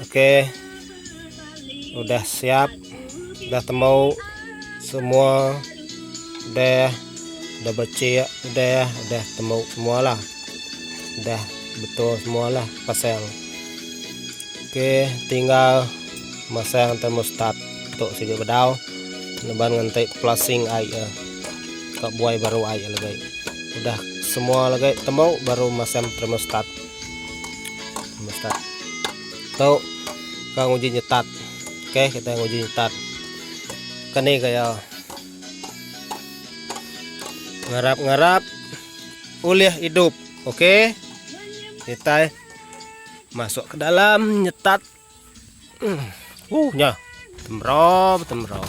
Ok udah siap udah tembau semua udah udah becik udah udah tembau semua lah udah betul semua lah pasang ok tinggal masang thermostat tu siku bedau leban nganti flushing air ya ka buai baru air lagi udah semua lagi tembau baru masang thermostat Nyetat. Tu ka nguji nyetat. Okey, kita nguji nyetat. Kani gaya. Ngarap-ngarap ulih hidup. Okey. Kita masuk ke dalam nyetat. Hmm. Uh, nya. Temro, temro.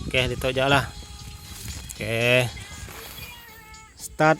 Okey, ditu jelah. Okey. Start.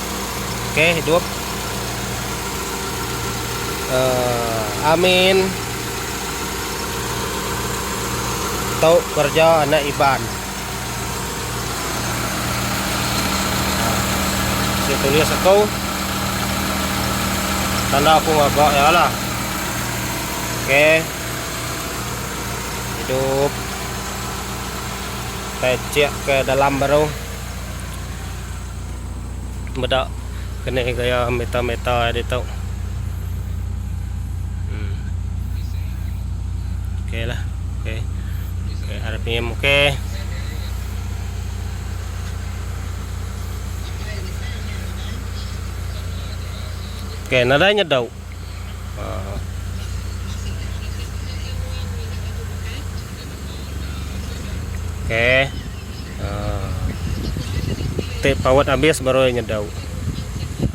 Oke hidup uh, Amin Tau kerja anak Iban Saya tulis aku Tanda aku ngagak ya lah Oke Hidup Kita cek ke dalam baru meda kene gaya meta meta ditu hmm okey lah okey okay, ada pm okey okey nadai nyedau uh. Okey. Ha. Tip power habis baru nyedau.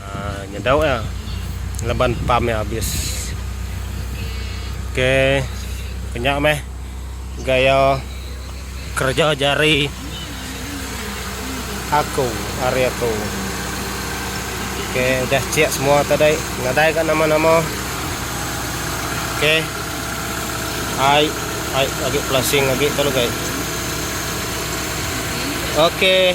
Ha, nyedau ya. Leban pam ya habis. Okey. Penyak meh gaya kerja jari. Aku ari aku. Okey udah check semua tadi. Nadai ka nama-nama. Okey. Ai ai agi flashing agi tu lagi. Okey.